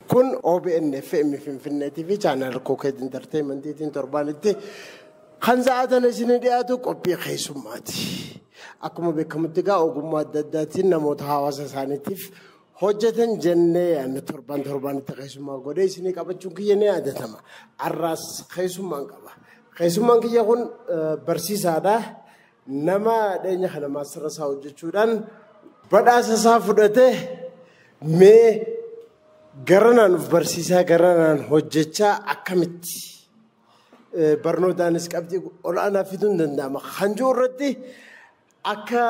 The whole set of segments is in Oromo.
Kun OBN FM Finfinnee TV chaanal Kokeet Intarteeymentiitiin torbaanitti kan sa'aatan isinii dhiyaatu qophii keessummaati. Akkuma beekamutti egaa ogummaa adda addaatiin namoota hawaasa isaaniitiif hojjetan jennee yaadne torban torbaanitti keessummaa godhee isinii qabachuun kiyya ni yaadatama. Har'aas keessummaan qaba. Keessummaan kiyya kun eh, barsiisaadha. Nama dhiyeenya kana maastara isaa hojjechuudhaan badhaasa isaa fudhate mee garanaan of barsiisaa garanaan hojjechaa akkamitti barnootaanis qabxii ol'aanaa fiduun danda'ama kan jiru irratti akka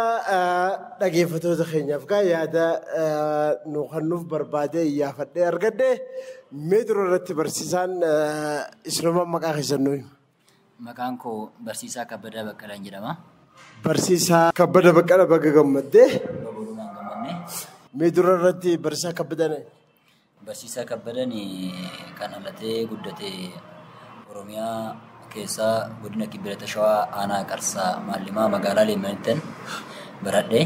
dhageeffatoota keenyaaf gaa yaada nu kennuuf barbaadee iyyaafadhee argadhe mee dura irratti barsiisaan isinuma maqaa keessan nuyi. Maqaan koo Barsiisaa Kabbadaa Baqqalaan jedhama. Barsiisaa Kabbada Baqqala baga gammadde. Babalumaan gammanne. Mee dura irratti barsiisaa Kabbadan Barsiisaa Kabbadan kan dhalatee guddate Oromiyaa keessaa godina Kibba Lixa Shawaa aanaa Qarsaa Maallimaa magaalaa Leemmanittan baradhe.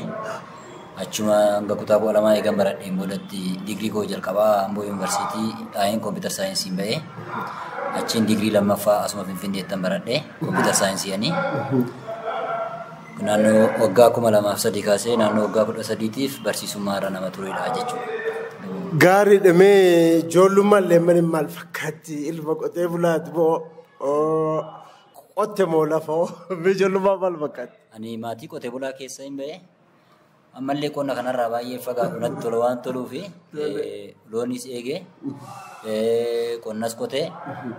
Achuma hanga kutaa kudha lamaa eegan baradheen boodatti digirii koo jalqabaa Amboo Yuunivarsiitii dhaa'een kompiitar saayinsiin ba'e. Achiin digirii lammaffaa asuma Finfinneettan baradhe kompiitar saayinsiiyanii. Naannoo waggaa kuma lamaaf sadii kaasee naannoo waggaa kudha sadiitiif barsiisummaa irra nama turedha jechuudha. Gaariidha mee ijoollummaan leemmaniin maal fakkaatti ilma qotee bulaati moo qotte moo lafa mee ijoollummaan maal fakkaatti? Ani maatii qotee bulaa keessa hin ba'e. Ammallee qonna kanarraa baay'ee fagaatu natti tola waan toluu fi loonis eegee qonnas qotee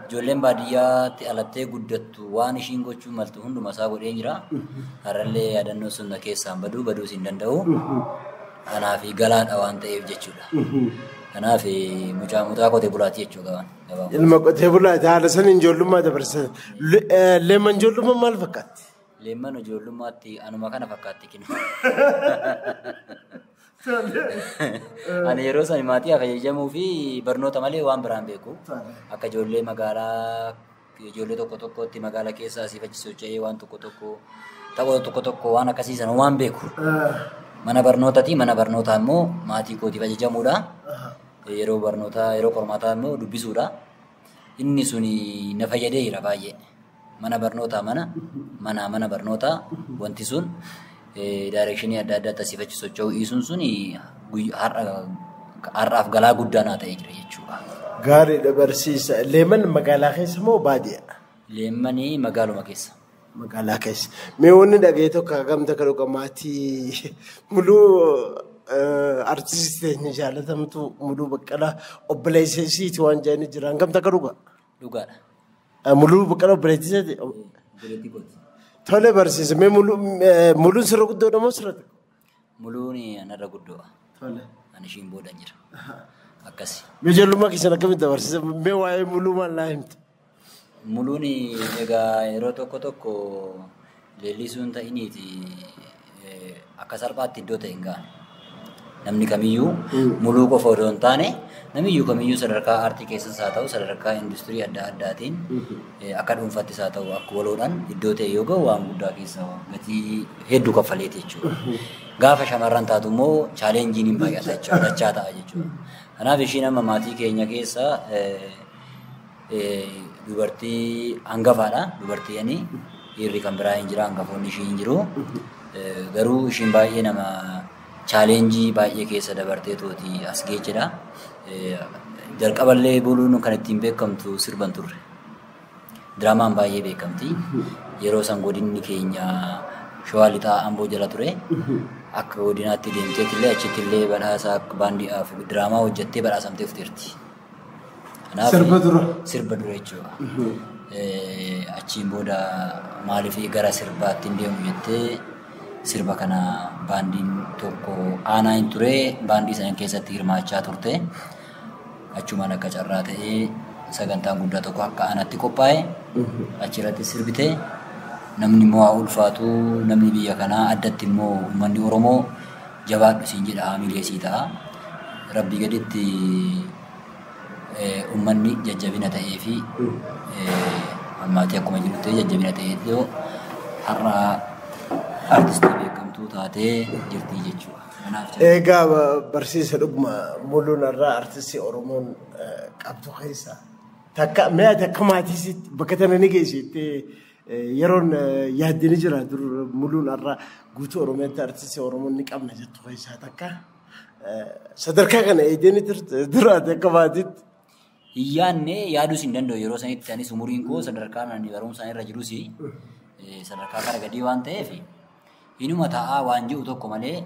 ijoolleen baadiyyaatti alattee guddattu waan ishiin gochuu maltu hunduma isaa godhee jira. Har'allee yaadannoo sun na keessaan baduu baduus hin danda'u. Kanaaf galaadha waan ta'eef jechuudha. Kanaaf mucaa mucaa qotee bulaati jechuudha. Ilma qotee bulaati haala saniin ijoollummaa dabarsan. Leeman ijoollummaa maal fakkaatti? Leemman ijoollummaatti anuma kana fakkaatti kinu. Ani yeroo sani maatii fayyadamuu fi barnoota malee waan biraan beeku. Akka ijoollee magaalaa ijoollee tokko tokkotti magaalaa keessa asii fachi socho'ee waan tokko tokko taphoota tokko tokko waan akkasii sana waan beeku. Mana barnootati mana barnootaa immoo maatii kootiif ajajamuudha. Yeroo barnootaa yeroo qormaataa immoo dubbisuudha. Inni suni na fayyadeera baay'ee. Mana barnootaa mana, manaa mana barnootaa wanti sun daayireekshinii adda addaatti asii fachi socho'uu dhiisuun sun har'aaf galaa guddaa naa ta'ee jira jechuudha. Gaariidha barsiisa. Leeman magaalaa keessa moo baadiyyaa? Leemmanii magaaluma keessa. Magaalaa keessa. Mee wanni dhaga'ee tokko hagam takka dhuga maatii muluu artistii teenya jaalatamtuu muluu baqqalaa obboleessa isiiti waan jedhanii jiran hagam takka dhuga? Dhugaadha. Ah, Muluu Baqqalaa obboleettiseeti. Obboleettii kooti. Tole barsiisa. Mee muluu eh, muluun sirra guddoodha moo sirra xiqqoo? Muluun anarra guddoodha. Tole. Ani ishiin booda jira. Akkasi. Mee ijoollummaa keessan akkamitti dabarsiisa? Mee waa'ee muluu maal naa himta? Muluun egaa yeroo tokko tokko Leellisuu hin ta'iniiti akka salphaatti iddoo ta'e hin ga'an. Namni kamiyyuu muluu qofa odoo hin taane namiyyuu kamiyyuu sadarkaa aartii keessas haa ta'u sadarkaa industirii adda addaatiin akka dhuunfattis haa ta'u akka waloodhaan iddoo ta'e yoo ga'u waan guddaa keessa gatii hedduu kaffaleeti jechuudha. Gaafa shamarran taatu immoo chaaleenjiin hin baay'ata jechuudha dachaa ta'a jechuudha. Kanaaf ishiin amma maatii keenya keessa dubartii hangafaadha. Dubartii ani dhiirri kan biraa hin jira hangafoonni ishii hin jiru. Garuu ishiin baay'ee nama chaaleenjii baay'ee keessa dabartee tooti as geechedha. Jalqaballee buluun kan ittiin beekamtu sirban turre. Diraamaan baay'ee beekamti. Yeroo san godinni keenya shawaa lixaa amboo jala ture. Akka godinaatti deemteetillee achittillee badhaasa baandii diraamaa hojjettee badhaasamtee dhufteerti. Kanaaf Sirba dura. Sirba dura jechuudha. Eh, Achiin booda maaliif gara sirbaatti hin deemu jettee sirba kana baandiin tokko aanaa hin ture baandii sana keessatti hirmaachaa turte. Achumaan akka carraa ta'ee sagantaan guddaa tokko akka aanaatti qophaa'e achirratti sirbite namni immoo haa ulfaatu namni biyya kanaa addatti immoo uummanni Oromoo jabaadhu siin jedha haamilee sii ta'a rabbii gaditti ummanni jajjabina ta'ee fi ammaatii akkuma jiru ta'ee jajjabina ta'ee iddoo har'a artistii beekamtuu taatee jirtii jechuudha. Kanaaf jajjabina. Egaa ba- barsiisa dhuguma muluun irraa artistii Oromoon eh, qabdu keessa takka mee ati akka maatiisitti bakka tana ni geessittee Yeroon yaadde ni jira dur muluun har'a guutuu Oromiyaatti artistii Oromoo ni qabna jettu keessaa takka. Sadarkaa kana eegdee ni turte duraati akka baatitti. Hin yaadne yaaduus hin danda'u yeroo sanitti anis umuriin koo sadarkaan ani barumsaan irra jirus sadarkaa gara gadii waan ta'eef Hinuma ta'aa waan je'u tokko malee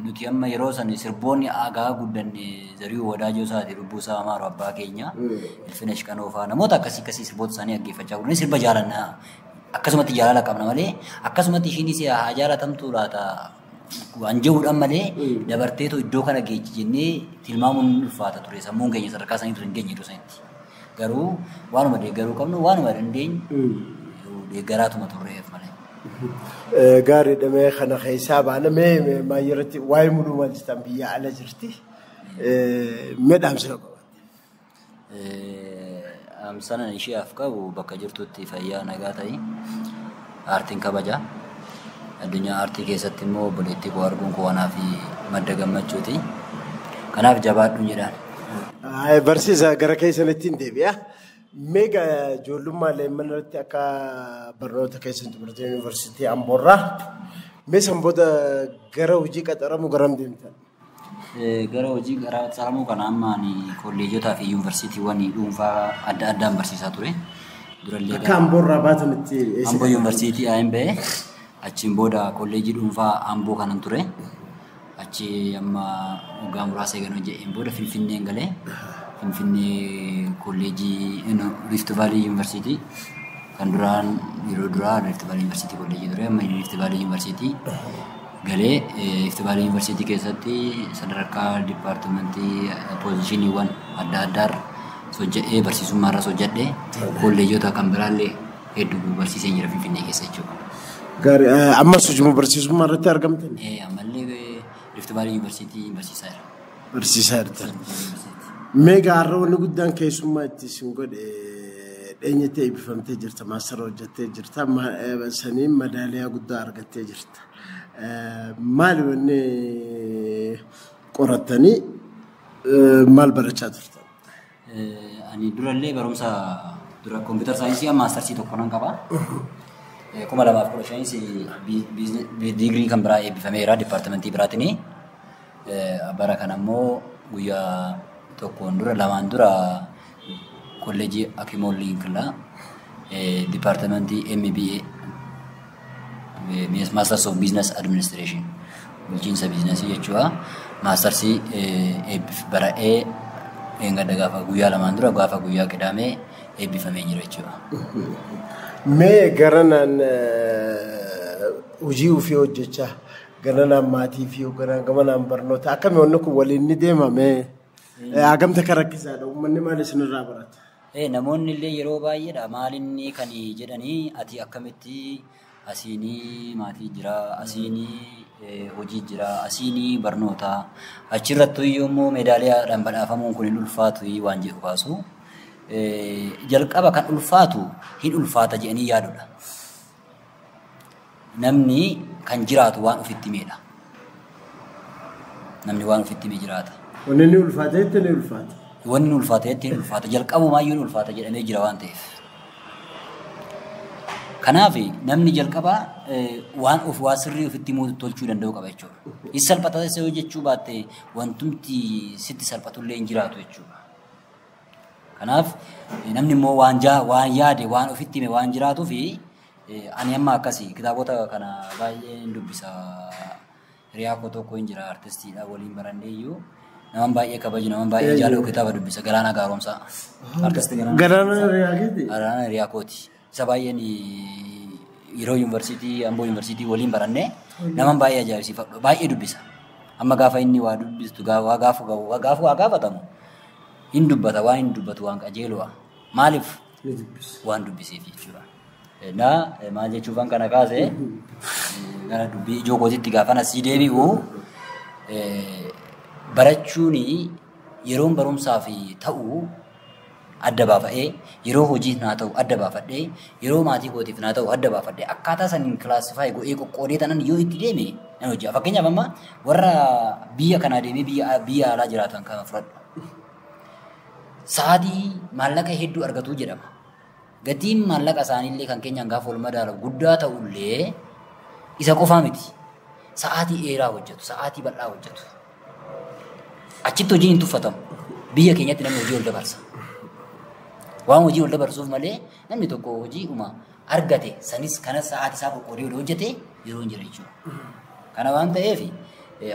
nuti amma yeroo san sirboonni aagaa guddanne Zariyuu Wadaajoo isaati lubbuu isaa amaaru abbaa keenya Ilfinesh Qanoo fa'aa namoota akkasii akkasii sirboota isaanii dhaggeeffachaa guddanne sirba jaalanna akkasumatti jaalala qabna malee akkasumatti ishiinis haa jaalatamtuu laata waan je'uudhaan malee dabarteetu iddoo kana geechi jennee tilmaamuun ulfaata ture sammuun keenya sadarkaa sanii ture hin geenye iddoo sanitti. Garuu waanuma deeggaruu qabnu waanuma dandeenyu deeggaraatuma turreef malee. Gaariidha mee kana keessaa baana mee maayyaratti waa'ee muluu maal jettan biyya ala jirti mee dhaamsina qabatte. Dhaamsanan isheef qabu bakka jirtutti fayyaa nagaa ta'i. aartiin kabaja. Addunyaa aartii keessatti immoo obboleettii koo arguun koo anaaf madda gammachuuti. Kanaaf jabaadhuun jedhaan. Ay, Barsiisa gara keessanitti hin deebi'a. Meega ijoollummaa leemman irratti akka barnoota keessan xumurtee yuunivarsiitii Amboorraa mee san booda gara hojii qaxaramuu garam deemtan? Gara hojii garaa qaxxaaramuu kana amma ani kolleejotaa fi yuunivarsiitiiwwan dhuunfaa adda addaan barsiisaa ture. Durallee Akka gara amboorraa baatan itti eessa Amboo dhaqan? yuunivarsiitii Ayin ba'e achiin booda kolleejii dhuunfaa Amboo kanan ture. Achi amma waggaa muraasa eegan hojje'een booda Finfinneen galee Finfinnee kolleejii no, Rift Valley yuunivarsiitii kan duraan yeroo duraa Rift Valley yuunivarsiitii kolleejii ture amma Rift Valley yuunivarsiitii galee Rift Valley University keessatti sadarkaa dipaartimentii poozishiniiwwan adda addaarra hojjedhee barsiisummaarras hojjedhee kolleejota kan biraallee hedduu barsiisee jira Finfinnee keessa jechuudha. Gaarii eh, ammas hojii barsiisummaa irratti argamtan Eh, Ammallee Rift Valley University barsiisaa jira. barsiisaa jirtan. Mee gaarra wanni guddaan keessummaa itti isin godhe dheenyettee eebbifamtee jirta maastara hojjettee jirta ma- eh, saniin madaaliyaa guddaa argattee jirta. Maali wanni qorattanii maal barachaa turtan? Ani durallee barumsa dura kompiitar saayinsii amma maastarsii tokko nan qaba. Kuma lamaaf kudha shanis diigrii kan biraa eebbifameera dipaartimentii biraatiin. Bara kana immoo guyyaa tokkoon dura lamaan dura kolleejii Akimoon Liinkla dipaartimentii MBA Maasters of Business Administration bulchiinsa biizinasii jechuudha. Maastarsii eebbif bara'ee eeggadda gaafa guyyaa lamaan dura gaafa guyyaa qidaamee eebbifamee jira jechuudha. Mee garanaan hojii ofii hojjechaa Galanaan maatii fi hogganaan gamanaan barnoota akkami wanni kun waliin ni deemame hagamta kan rakkisaadha uummanni maal isinirraa barata? Ee namoonni illee yeroo baay'eedha maalinni kan jedhanii ati akkamitti asiinii maatii jira asiinii eh, hojii jira asiinii barnoota achirrattu iyyuu immoo meedaaliyaadhaan badhaafamuun kun hin ulfaatu waan jedhu kaasu. Eh, Jalqaba kan ulfaatu hin ulfaata jedhanii yaadudha. namni kan jiraatu waan ofitti himeedha. Namni waan ofitti hime jiraata. Wanni ni ulfaata jettee ni ulfaata. Wanni ni ulfaata jettee ni ulfaata. Jalqabumaa iyyuu ni ulfaata jedhamee jira waan ta'eef. Kanaaf namni jalqabaa waan of waa sirrii ofitti himuu tolchuu danda'uu qaba jechuudha. Is salphata isa yoo jechuu baatte wantumti sitti salphatullee hin jiraatu jechuudha. Kanaaf namni immoo waan jaa waan yaade waan ofitti hime waan jiraatu fi ani amma akkasi kitaabota kana baay'ee hin dubbisa hiriyaa koo tokko hin jira artistiidha waliin barannee iyyuu naman baay'ee kabaju naman baay'ee jaalatu kitaaba dubbisa galaana gaaromsaa artisti galaana Galaana Riyaakiti. galaana hiriyaa kooti. Isa baay'een yeroo yuunivarsiitii Amboo yuunivarsiitii waliin barannee naman baay'ee ajaa'ibsiifadhu baay'ee dubbisa. Amma gaafa inni waa dubbistu waa gaafu waa gaafu waa gaafatamu hin dubbata waan hin dubbatu waan qajeeludha. Maaliif waan dubbiseef jechuudha. Na maal jechuufan kana kaase gara dubbii ijoo kootiitti gaafa nasii deebi'u barachuun yeroon barumsaaf ta'u adda baafa'ee, yeroo hojiif naa ta'u adda baafadhee, yeroo maatii kootiif naa ta'u adda baafadhee akkaataa saniin classify godhee qoqqoodee tanan yoo itti deeme nan hojjaa. Fakkeenyaaf amma warra biyya kanaa deemee biyya biyya alaa jiraatan kana fudhadhu. Sa'aatii maallaqa hedduu argatuu jedhama. Gatiin maallaqa isaaniillee kan keenyaan gaafa wal madaalamu guddaa ta'ullee isa qofaa miti. Sa'aatii dheeraa hojjetu, sa'aatii bal'aa hojjetu. Achitti hojiin hin tuffatamu. Biyya keenyatti namni hojii ol dabarsa. Waan hojii ol dabarsuuf malee namni tokko hojii uma argate sanis kanas sa'aatii isaa qoqqoodee yoo hojjete yeroo hin jira jechuudha. Kana waan ta'eef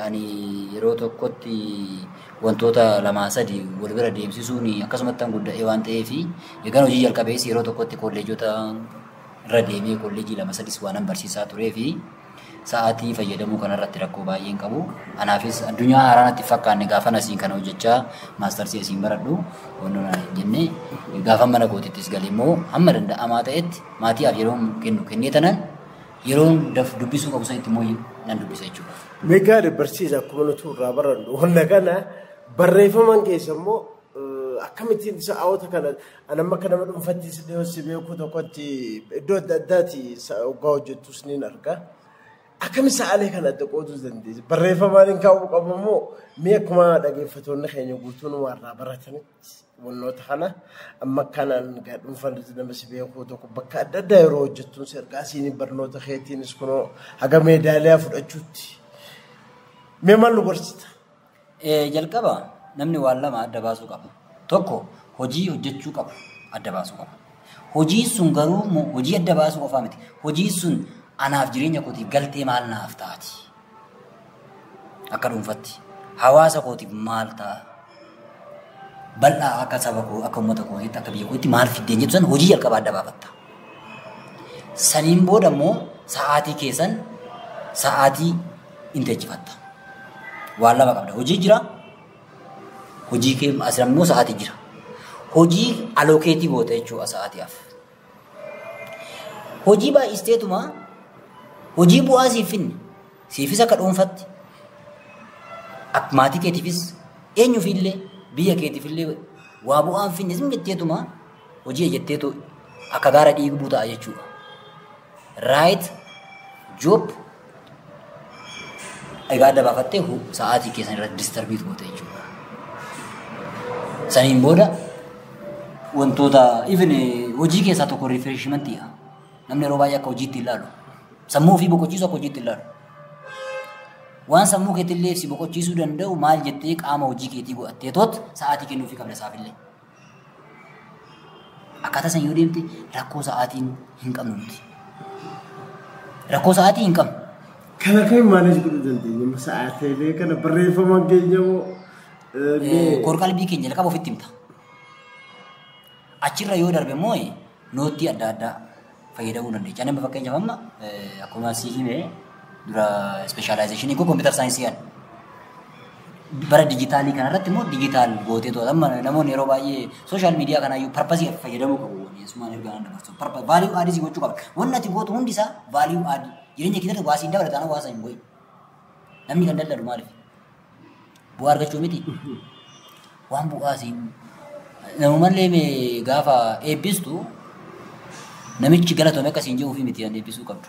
Ani yeroo tokkotti wantoota lamaa sadi wal bira deemsisuun akkasumattan gudda'ee waan ta'eef eegan hojii jalqabees yeroo tokkotti kolleejota irra deemee kolleejii lama sadis waanan barsiisaa turee fi sa'aatii fayyadamuu kanarratti rakkoo baay'ee hin qabu. Anaafis addunyaa haaraa natti hin fakkaanne gaafan asiin kana hojjechaa maastarsii asiin baradhu wantoota naan hin jenne gaafan mana kootittis gale immoo hamma danda'amaa ta'etti maatiidhaaf yeroo kennu kennee tanan Yeroon daf dubbisuu qabu sanitti immoo nan dubbisa jechuudha. Meegaadha barsiisa akkuma nuti irraa barannu. Wanna kana barreeffaman keessa immoo akkamittiin sa'aawota kana ani amma akka nama dhuunfatti si dhiyoo si beeku tokkotti iddoo adda addaati oggaa hojjettus ni arga. Akkami sa'aalee kana adda qooduu dandeessi? Barreeffamaan hin kaa'uu qabu immoo mee akkuma dhaggeeffattoonni keenya guutuun irraa baratanii. Wannoota kana amma kanaan egaa dhuunfaan nama si beekuu tokko bakka adda addaa yeroo hojjettuun si ergaa siiniin barnoota keetiinis kunoo haga meedaaliyaa fudhachuutti mee maal nu gorsita? Eh, jalqaba namni waan lama adda baasuu qaba. Tokko hojii hojjechuu qabu adda baasuu qaba. Hojiin sun garuu mo- hojii adda baasuu qofaa miti. Hojiin sun anaaf jireenya kootiif galtee maal naaf taati? akka dhuunfatti hawaasa kootiif maal ta'a? Bal'aa akka saba koo akka uummata kootiitti akka biyya kootiitti maal fiddeen jettu san hojii jalqabaa adda baafatta. Saniin booda immoo sa'aatii keessan sa'aatii inteechifatta. Waan lama qabda. Hojii jira. Hojii kee asirra immoo sa'aatii jira. Hojii alookeetii goota jechuudha sa'aatiif. Hojii baay'isteetuma hojii bu'aa siif finne siifis akka dhuunfatti ak- maatii keetiifis eenyufiillee biyya keetiifillee waa bu'aan finne sin jetteetuma hojii ejetteetu akka gaara dhiigbuu ta'a jechuudha. Right job egaa adda baafattee hu- sa'aatii keessan irratti distarbiit goote jechuudha. Saniin booda wantoota even eh, hojii keessaa tokko rifreeshimantii namni yeroo baay'ee akka hojiitti ilaalu sammuu ofii boqochiisu akka hojiitti ilaalu waan sammuu keetillee si boqochiisuu danda'u maal jettee qaama hojii keetii godhattee toot sa'aatii kennuufii qabda isaafillee. Akkaataa san yoo deemte rakkoo sa'aatiin hin qabnu nuti. Rakkoo sa'aatii hin qabnu. Kana kan maaneej godhuu dandeenya. Amma sa'aatiilee kana barreeffama keenya moo Eh, Kor qalbii keenya jalqaba ofitti himta. Achirra yoo darbe immoo eh, noottii adda addaa fayyadamuu dandeecha. Nama fakkeenyaaf amma akkuma si hime dura ispeeshaalaayizeshinii koo kompiitar saayinsii ani. Bara dijitaalii kanarratti immoo dijitaal gootee to'ata. Amma namoonni yeroo baay'ee sooshaal miidiyaa kanaayyuu parpasii fayyadamuu qabu. Yesumaan ergaa nan dabarsu. Vaaliyuu aadii si gochuu qaba. Wanni ati gootu hundi isaa vaaliyuu aadii. Jireenya keessatti waa siin dabalataana waa sana hin godhin. Namni kan daldalu maaliif? Bu'aa argachuu miti. Waan bu'aa siin namumallee mee gaafa eebbistu namichi galatoome akka siin jedhuufi miti kan eebbisuu qabdu.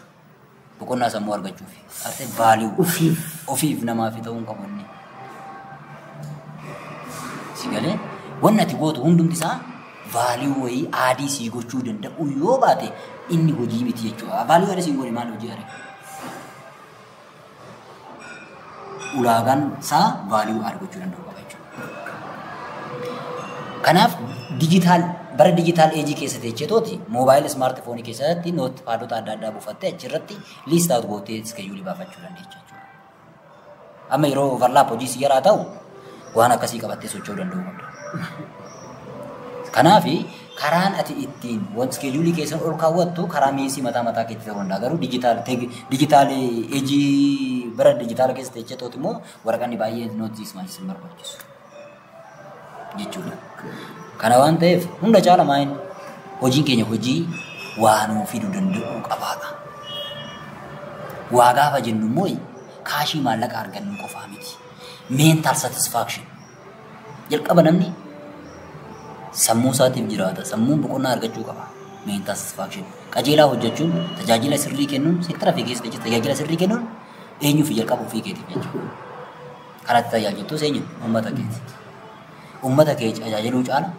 Boqonnaa sammuu argachuuf. Arte baali'u. Ofiif. Ofiif namaaf ta'uu hin qabu inni. Si galee wanni ati gootu hundumti isaa baali'u wayii aadii sii gochuu danda'u yoo baate inni hojii miti jechuudha. Baali'u aadii siin goone maal hojii aadee? ulaagaan isaa value add gochuu danda'u qaba jechuudha. Kanaaf digital bara digital age keessa teechee tooti mobile smartphone keessatti notepadota adda addaa buufattee achirratti list out gootee schedule baafachuu dandeecha jechuudha. Amma yeroo overlap hojii si yaraa ta'u waan akkasii qabattee socho'uu danda'uu qabda. Kanaaf Karaan ati ittiin wan schedule kee san ol kaawwattu karaa miisii mataa mataa keetti ta'uu danda'a garuu digital teg digital age bara digital keessa teechee tooti immoo waraqanni baay'een not this much sin barbaachisu jechuudha. Kana waan ta'eef hunda caala maayin hojiin keenya hojii waa nuu fiduu danda'uu qabaadha. Waa gaafa jennu immoo kaashii maallaqa argannu qofaa miti. Mental satisfaction Jalqaba namni sammuu isaatiif jiraata. Sammuun boqonnaa argachuu qaba. Mental satisfaction. Qajeelaa hojjechuun tajaajila sirrii kennuun seektara fi keessa jecha tajaajila sirrii kennuun eenyuu fi jalqaba ofii keetiif jechuudha. Karatti tajaajiltuus eenyu? Uummata keeti. Uummata kee tajaajiluu caala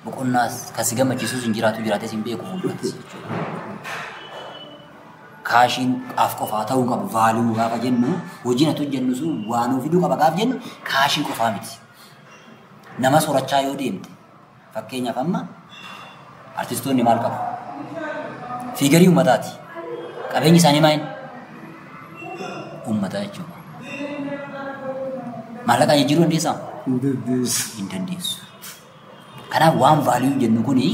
boqonnaas kan si gammachiisus hin jiraatu jiraates hin beeku fuulduratti jechuudha. Kaashiin af qofaa ta'uu qabu vaaluu gaafa jennu hojiin ati hojjennu sun waan of fiduu qaba gaafa jennu kaashii qofaa miti. Nama sorachaa yoo deemte fakkeenyaaf amma artistoonni maal qabu? Fiigarii uummataati. Qabeenyi isaanii maal? Uummata jechuudha. Maallaqaan jijjiiruu dandeessaa? Hin dandeessu. Kanaaf waan value jennu kuni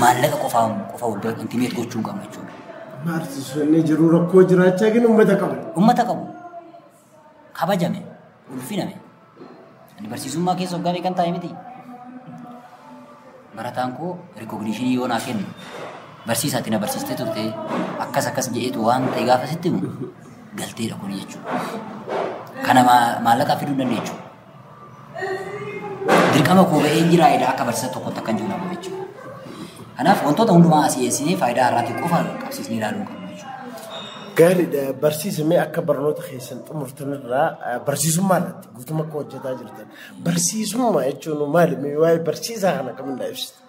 maallaqa qofaa qofa wal bira intimate gochuu hin qabnu jechuudha. Artistoonni jiru rakkoo jiraachaa kennu uummata qabu. Uummata qabu kabajame ulfiname ani barsiisummaa keessa waggaa meeqan taa'e miti. Barataan koo rikogniishinii yoo naa kennu barsiisaatti na barsiistee turte akkas akkas jedheetu waan ta'e gaafa sitti himu galteedha kun jechuudha. Kana maa- maallaqaa fiduu hin dandeenyu. dirqama koo ba'een jira edaa akka barsiisa tokkotti akkan jiru dhabu jechuudha. Kanaaf wantoota hundumaa asii eessinee faayidaa irraatti qofa qabsiisnee ilaaluu hin qabnu jechuudha. Gaariidha barsiisamee akka barnoota keessan xumurtan irraa eh, barsiisummaa irratti guutummaa akka hojjetaa jirtan barsiisummaa jechuun maali Mee waa'ee barsiisaa kana kamindaa ibsita.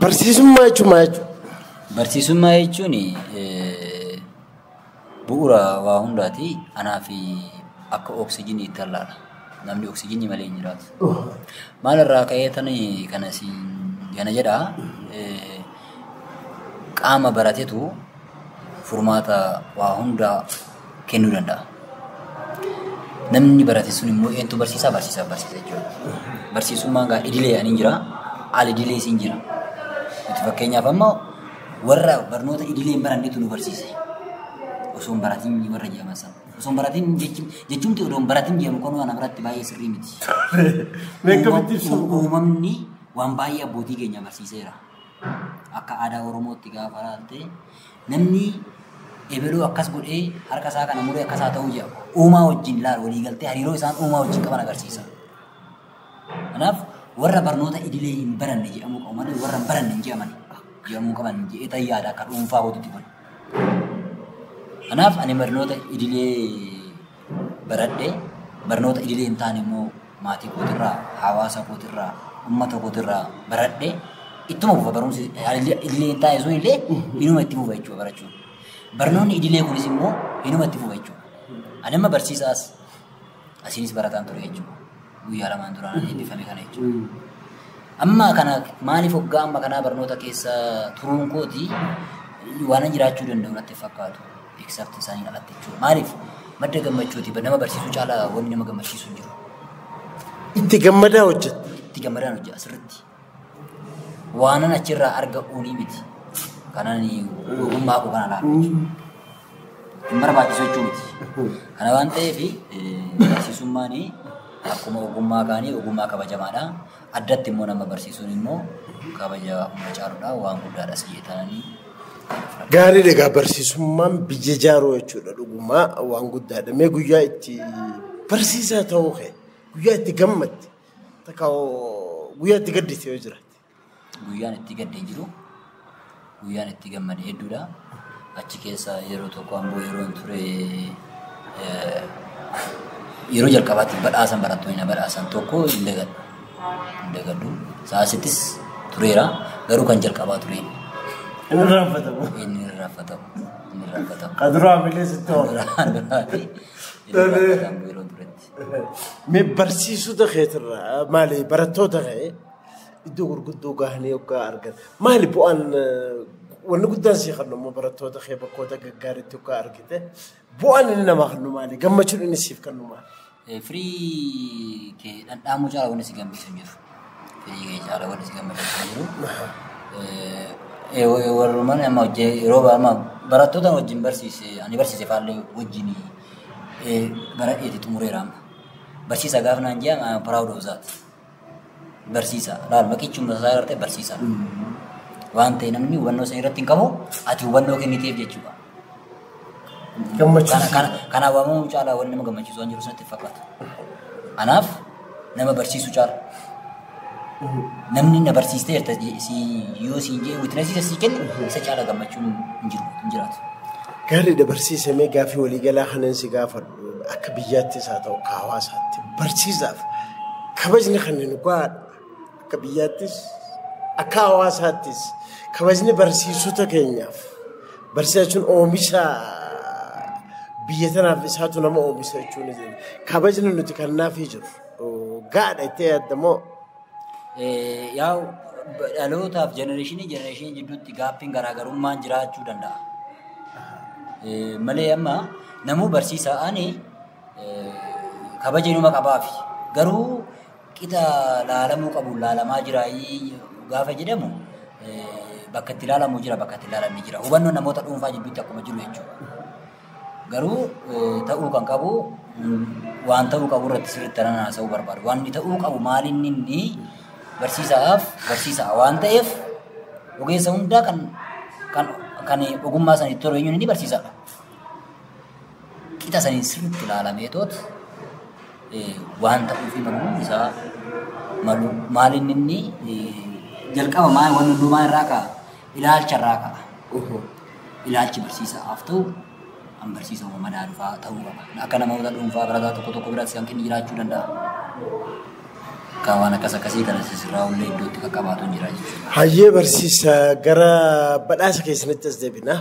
Barsiisummaa jechuun maal jechuudha? Barsiisummaa jechuun bu'uura waa hundaati. Anaaf akka oksijiinii ta'e laata. Namni oksijiinii malee hin jiraatu. Maalirraa ka'ee kana jedhaa? Qaama baratetu. furmaata waa hundaa kennuu danda'a. Namni barate sun immoo eenyutu barsiisaa barsiisaa barsiisa jechuudha. Barsiisummaan gaa idilee ani jira, al idilee siin jira. Nuti fakkeenyaaf amma warra barnoota idilee hin barannetu nu barsiise. Osoo hin baratin warra jedhaman sana. Osoo hin baratin jechuun jechuumti odoo hin baratin jedhamu kun waan biratti baay'ee sirrii miti. Meeqa bittiif Uumam- Uumamni waan baay'ee abbootii keenya barsiiseera. Akka aadaa Oromootti gaafa ilaalte namni ebaluu akkas godhee harka isaa kana muree akkas haa ta'uu jedha. Uumaa wajjin ilaal walii galtee hariiroo isaan uumaa wajjin qaban agarsiisa. Kanaaf warra barnoota idilee hin baranne jedhamuu qabu malee warra hin baranne hin jedhamani jedhamuu qaban jedhee ta'e yaada akka dhuunfaa hojjetti kun. Kanaaf ani barnoota idilee baradhe. Barnoota idilee hin taane immoo maatii kootirraa, hawaasa kootirraa, uummata kootirraa baradhe. Ittuma fufa barumsi idilee hin taane sun illee inuma itti fufa jechuudha barachuun. Barnoonni idilee kunis immoo inuma itti fufa jechuudha. Ani amma barsiisaas asiinis barataan ture jechuudha. Guyyaa lamaan duraan eebbifame kana jechuudha. Amma kana maaliif hoggaa amma kanaa barnoota keessa turuun kooti waanan jiraachuu danda'u natti hin fakkaatu. except isaaniin alatti jechuudha. Maaliif? Madda gammachuuti. Nama barsiisuu caalaa wanni nama gammachiisu hin jiru. Itti gammadaa hojjetta. Itti gammadaan hojjeta asirratti. Waanan achirraa arga uunii miti. Kanan ogummaa koo kana laata jechuudha. Hin barbaachisu jechuu miti. Kana waan ta'eef barsiisummaan akkuma ogummaa kaanii ogummaa kabajamaadha. Addatti immoo nama barsiisuun immoo kabaja hunda caaludha waan guddaadha si jetananii. Gaariidha egaa barsiisummaan biyya jaaruu jechuudha dhugumaa waan guddaadha. Mee guyyaa itti barsiisaa ta'uu kee guyyaa itti gammadde takka guyyaa itti gaddite yoo jiraate. Guyyaan itti gaddee jiru Guyyaan itti gammade hedduudha. Achi keessa yeroo tokko amboo yeroon ture yeroo jalqabaatti badhaasan barattoonni na badhaasan tokko hin dagadhu. Hin dagadhu. Saasittis tureera. Garuu kan jalqabaa ture. Inni raanfatamu. Inni hin raanfatamu. Inni hin raanfatamu. Kan duraa hamilee sitti ho'a. Duraan duraa fi inni raanfatamu yeroo turetti. Mee barsiisota keetirraa maali barattoota kee Iddoo gurguddoo gahanii hoggaa argan maali bu'aan wanni guddaan sii kennu immoo barattoota kee bakkoota gaggaariitti hoggaa argite bu'aan inni namaa kennu maali gammachuun inni siif kennu maali. Firii kee dhandhaamuu caala wanni si gammachiisu hin jiru. Firii kee caala wanni si gammachiisu hin jiru. Warrumaan amma hojjee yeroo amma barattoota wajjin barsiise ani barsiise faallee wajjin bara eeti xumureera amma. Barsiisa gaafa naan jaa proud of that. barsiisa. Laal maqichi humna isaa irratti barsiisa. Waan ta'e namni hubannoo sana irratti hin qabu ati hubannoo kenniteef jechuudha. Kana Gammachiisa. kana kana waamamuu caalaa wanti nama gammachiisu waan jiru sanatti fakkaata. Kanaaf nama barsiisu caala. Namni na barsiistee jirta je- si yoo siin jee witnessiisa sii kenne isa caala gammachuun hin jiru hin jiraatu. Gaariidha barsiisamee gaaffii waliigalaa kanan si gaafadhu. Akka biyyaattis haa ta'u akka hawaasaatti barsiisaaf kabajni kan nu gahaadha. Akka biyyaattis akka hawaasaattis kabajni barsiisota keenyaaf barsiisa jechuun oomisha biyya tanaaf isaatu nama oomisha jechuun kabajni nuti kannaafii jiru gahaadha itti yaaddamoo. Yaa'u dhalootaaf jenereeshinii jenereeshinii jidduutti gaaffiin garaagarummaan jiraachuu danda'a. Malee amma namuu barsiisaa ani kabaja inuma qabaafi. Garuu qixa laalamuu qabu laalamaa jira gaafa jedhamu bakka itti laalamu jira bakka itti laalamne jira. Hubannoon namoota dhuunfaa jidduutti akkuma jiru jechuudha. Garuu ta'uu kan qabu waan ta'uu qabu irratti sirriitti tanan haasa'uu barbaadu. Wanni ta'uu qabu maali inni inni barsiisaaf barsiisaa waan ta'eef ogeessa hundaa kan kan kan ogummaa sana itti horeenyuun inni barsiisaadha. Qixa saniin sirriitti ilaalamee toot waan ta'uu fi maluun isaa malu maali inni inni jalqaba maal waan hundumaa irraa ka'a. Ilaalcha irraa ka'a. Ohoo. Ilaalchi barsiisaaf ta'u kan barsiisa uumamaa daalufaa ta'uu qaba. Akka namoota dhuunfaa barataa tokko tokko biratti hanqinni jiraachuu danda'a. Egaa waan akkas akkasii kana sirraa ollee iddootti qaqqabaatu hin jira jechuudha. Hayyee barsiisa gara badhaasa keessanitti as deebina.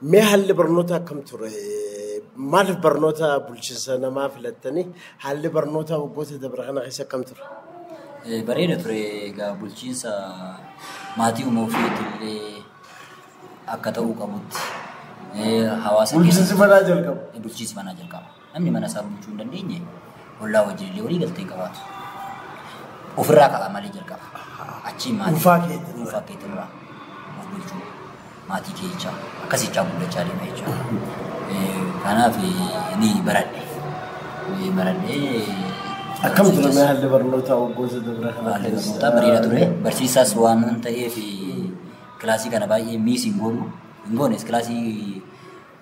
Mee haalli barnootaa akkam ture? Maaliif barnoota bulchiinsa namaa filattanii? Haalli barnootaa waggoota dabre kana keessa akkam ture? Bareeda ture egaa bulchiinsa maatii uumuu fi illee akka ta'uu qabutti hawaasa keessatti. Bulchiinsi manaa jalqaba. Bulchiinsi manaa jalqaba. Namni mana isaa bulchuu hin dandeenye ollaa wajjin illee walii galtee hin qabaatu. Ofirraa ka'a malee jalqaba. Achiin maatii Dhuunfaa keetti dura. dhuunfaa keetti dura of bulchuu maatii kee jechaa akkasii jechaa guddachaa deema jechuudha. Eh, Kanaaf eh, ni baradhe. Ni baradhe. Akkam ture mee haalli barnootaa waggoota dabra kana Haalli barnootaa bareedaa ture. Barsiisaas waan ta'eef kilaasii kana baay'ee miis hin goonu. Hin goones kilaasii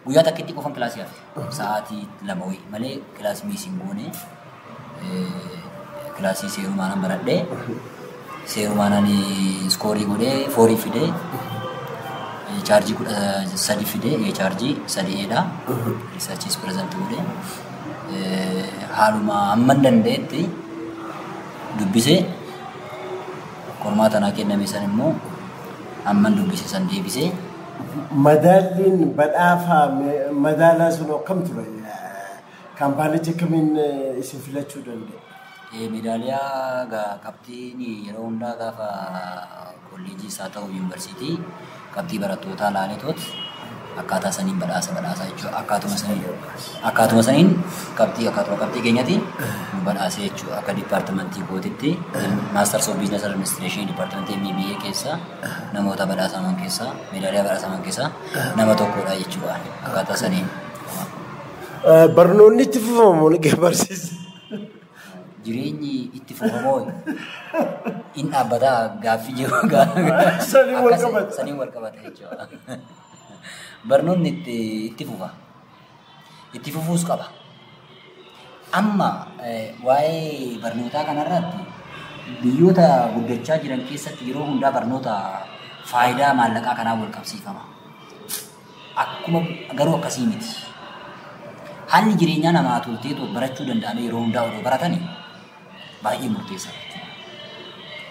Guyyaa takkitti qofan kilaasii hafe. Sa'aatii lama wayi malee kilaasii miis hin goone. Kilaasii seerumaanan baradhe. Seerumaanan iskoorii godhee foorii fidee chaarjii kudha sadi fidee ee chaarjii sadi eedha. Riisarchiis pireezantii godhee haaluma hamman danda'etti dubbisee qormaata naa kenname san immoo hamman dubbise san deebisee Madaalliin badhaafaa madaalaa sun akkam ture? Kaampaanichi akkamiin isin filachuu danda'e? Meedaaliyaa qabxiin yeroo hundaa gaafa kolleejiis haa ta'u yuunivarsiitii qabxii barattootaa laaleetoot akkaataa saniin badhaasa badhaasaa jechuudha. Akkaatuma saniin akkaatuma saniin qabxii akkaatuma qabxii keenyati nu badhaasee jechuudha. Akka dipaartimentii kootitti maastarsii of biizinasii administreeshinii dipaartimentii MBA keessaa namoota badhaasaman keessaa meedaaliyaa badhaasaman keessaa nama tokkodha jechuudha akkaataa saniin. Barnoonni itti fufamu liqee barsiisa. Jireenyi itti fufamoo in dhaabbataa gaaffii jiru Saniin wal qabata. saniin wal qabata jechuudha. Barnoonni itti itti fufa. Itti fufuus qaba. Amma waa'ee barnootaa kanarratti biyyoota guddachaa jiran keessatti yeroo hundaa barnoota faayidaa maallaqaa kanaan wal qabsiifama. Akkuma garuu akkasii miti. Haalli jireenyaa namaa toltee barachuu danda'an yeroo hundaa odoo baratanii baay'ee murteessaa jechuudha.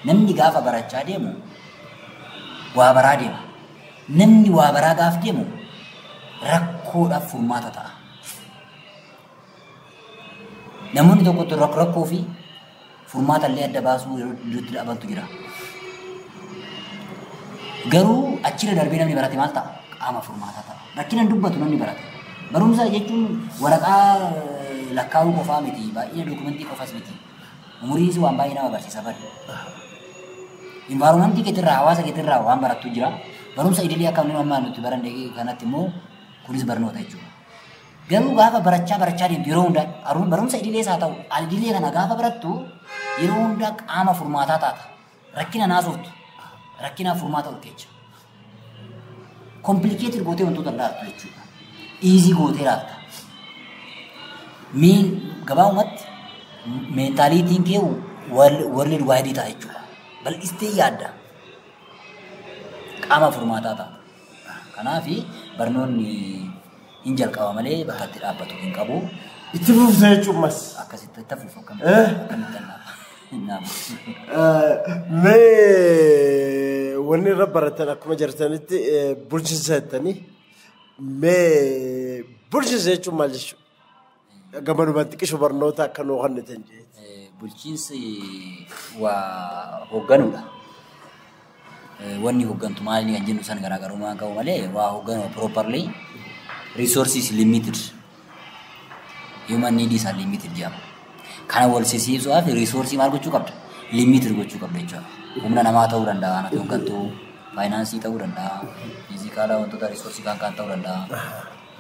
Namni gaafa barachaa deemu waa baraa deema. Namni waa baraa gaaf deemu rakkoodhaaf furmaata ta'a. Namoonni tokko tokko rakkoo fi furmaata illee adda baasuu yeroo iddootti dhabantu jira. Garuu achirra darbee namni barate maal ta'a? Qaama furmaataa ta'a. Rakkina hin dubbatu namni barate. Barumsa jechuun waraqaa lakkaa'uu qofaa miti. Baay'ina dookumentii qofas miti. Umuriin si waan baay'ee nama barsiisa bari. Environmentii keetirraa hawaasa keetirraa waan barattu jira. Barumsa idilee akka inni ammaa nuti baranne kanatti immoo kunis barnoota jechuudha. Garuu gaafa barachaa barachaa deemtu yeroo hundaa barumsa idilees haa ta'u al idilee kana gaafa barattu yeroo hundaa qaama furmaataa taata. Rakkina naasoftu rakkinaaf furmaata ol keecha. Komplikeetir gootee wantoota hin laattu jechuudha. Iizii gootee laatta. Miin gabaabumatti meentaaliitiin kee warri duwwaayidii ta'a jechuudha. Bal'istee yaadda. Qaama furmaataa ta'a. Kanaaf barnoonni hin jalqaba malee bakka itti dhaabbatu hin qabu. Itti fuufsee jechuun mas. Akkasitti itti fuuf akkamitti Eh? akkamitti hin naamu. Mee wanni irra baratan akkuma jirtanitti eh, bulchiinsa jettanii mee bulchiinsa jechuun maal jechuudha? Gamanuma xiqqisho barnoota akka nuu kennitan jee. Eh, Bulchiinsi waa hoogganuudha. Eh, Wanni hooggantu maali kan jennu san garaagarummaa qabu malee waa hoogganuu properly resources limited human needs are limited jedhama. Kana wal sisiisuudhaaf resource maal gochuu qabda? Limited gochuu qabda jechuudha. Humna namaa ta'uu danda'a, anatu hooggantuu, faayinaansii ta'uu danda'a, fiizikaalaa wantoota resource kan kan ta'uu danda'a.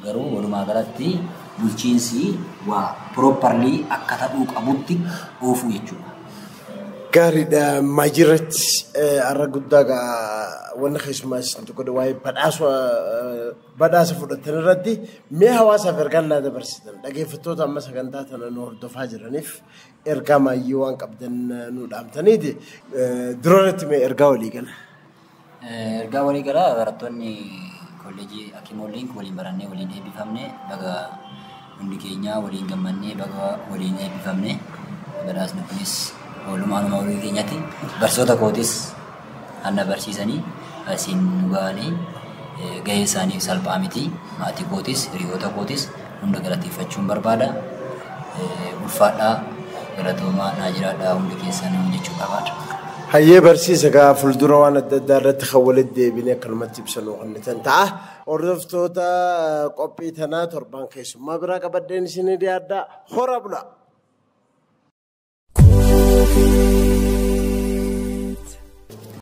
Garuu walumaa galatti bulchiinsi waa properly akka ta'uu qabutti oofuu jechuudha. Gaariidha Maajirratti har'a guddaa gaa wanna keessumaa isin tokko dha waa'ee badhaasa badhaasa fudhatan irratti mee hawaasaaf ergaa naa dabarsitan dhageeffattoota amma sagantaa tana nu hordofaa jiraniif ergaa maayyii waan qabdan nu dhaamtaniiti dura irratti mee ergaa walii gala. Ergaa walii galaa barattoonni kolleejii Akimoo Liink waliin barannee waliin eebbifamne baga hundi keenyaa waliin gammannee baga waliin eebbifamne badhaasni kunis oolmaa nama walii keenyatti barsiisota kootis hanna barsiisanii asiin nu ga'anii gahee isaaniif salphaa miti maatii kootis hiriyoota kootis hunda galateeffachuun barbaada. Ulfaadhaa galatoomaa naa jiraadhaa hundi keessanuu jechuu qabaadha. Hayyee barsiisa egaa fuuldura waan adda addaa irratti kan walitti deebinee akkanumatti ibsa nuu kennitan ta'a. Hordoftoota qophii tanaa torbaan keessummaa biraa qabadheen isinii dhiyaadhaa. Hora bulaa!